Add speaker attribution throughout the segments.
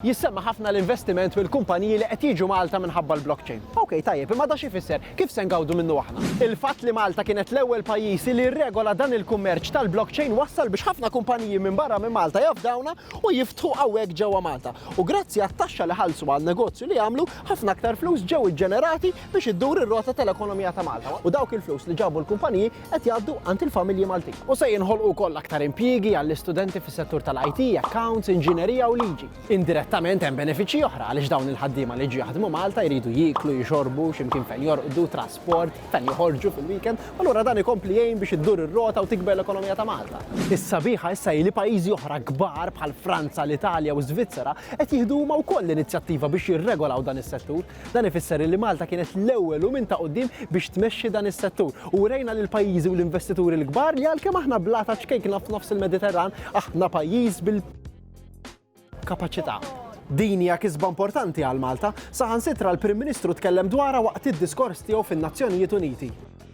Speaker 1: Jissemma ħafna l-investiment mill-kumpaniji li qed jiġu Malta minħabba l-blockchain. Ok, tajjeb, imma da x'ifisser? Kif se ngawdu minnu aħna? Il-fatt li Malta kienet l-ewwel pajjiż li rregola dan il-kummerċ tal-blockchain wassal biex ħafna kumpaniji minn barra minn Malta jafdawna u jiftħu hawnhekk ġewwa Malta. U grazzi għat-taxxa li ħallsu għan-negozju li għamlu, ħafna aktar flus ġew iġġenerati biex iddur ir-rota tal-ekonomija ta' Malta. U dawk il-flus li ġabu l-kumpaniji, qed jgħaddu għand il-familji Maltin. U se jinħolqu wkoll aktar impjiegi għall-istudenti fis-settur tal-IT, accounts, inġinerija u liġi. Indirettament hemm benefiċċji oħra għaliex dawn il-ħaddiema li jiġu jaħdmu Malta jridu jieklu, jixorbu, x'imkien fejn jorqdu, trasport, fejn joħorġu fil-weekend, u allura dan ikompli jgħin biex iddur ir-rota u tikber l-ekonomija ta' Malta. Is-sabiħa issa hi li pajjiżi oħra kbar bħal Franza, l-Italja u ż-Żvizzera qed jieħdu huma wkoll l-inizjattiva biex jirregolaw dan is-settur. Dan ifisser li Malta kienet l-ewwel u minn ta' quddiem biex tmexxi dan is-settur u wrejna lill-pajjiżi u l-investituri l-kbar li għalkemm aħna blata ċkejkna f'nofs il-Mediterran, aħna pajjiż bil kapaċità. Din hija kisba importanti għal Malta, saħansitra l-Prim Ministru tkellem dwarha waqt id-diskors tiegħu fin-Nazzjonijiet Uniti.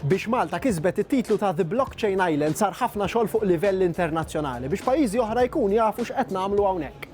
Speaker 1: Biex Malta kisbet it-titlu ta' The Blockchain Island sar ħafna xogħol fuq livell internazzjonali biex pajjiżi oħra jkun jafu x'qed nagħmlu hawnhekk.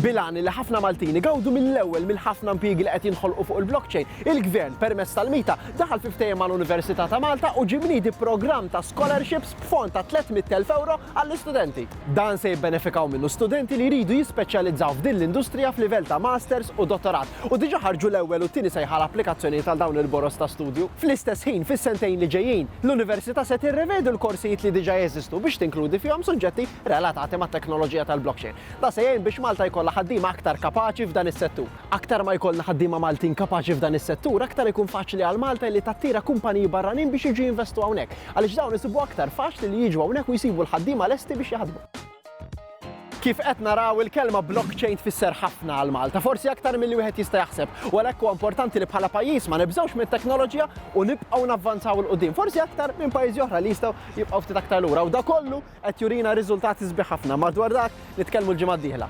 Speaker 1: Bil-għan li ħafna Maltin igawdu mill-ewwel mill-ħafna impjiegi li qed jinħolqu fuq il-blockchain, il-Gvern, permezz tal-MITA, daħal fi ftehim mal-Università ta' Malta u ġie mniedi programm ta' scholarships b'fond ta' 300,000 ewro għall-istudenti. Dan se jibbenefikaw minnu studenti li jridu jispeċjalizzaw f'din l-industrija f'livell ta' Masters u Dottorat u diġà ħarġu l-ewwel u t-tieni sejħa għal applikazzjonijiet għal dawn il-boroż ta' studju. Fl-istess ħin, fis-sentejn li ġejjin, l-Università se tirrevedi l-korsijiet li diġà jeżistu biex tinkludi fihom suġġetti relatati mat-teknoloġija tal-blockchain. Dan se jgħin biex Malta jkollha ħaddiema aktar kapaċi f'dan is-settur. Aktar ma jkollna ħaddiema Maltin kapaċi f'dan is-settur, aktar ikun faċli għal Malta li tattira kumpaniji barranin biex jiġu jinvestu hawnhekk, għaliex dawn isibuha aktar faċli li jiġu hawnhekk u jsibu l-ħaddiema lesti biex jaħdmu. Kif qed naraw, il-kelma blockchain tfisser ħafna għal Malta, forsi aktar milli wieħed jista' jaħseb, u għalhekk huwa importanti li bħala pajjiż ma nibżgħux mit-teknoloġija u nibqgħu navvanzaw 'il quddiem, forsi aktar minn pajjiżi oħra li jistgħu jibqgħu ftit aktar lura u dak kollu qed jurina riżultati sbieħ ħafna. Madwar dak nitkellmu l-ġimgħa d-dieħla.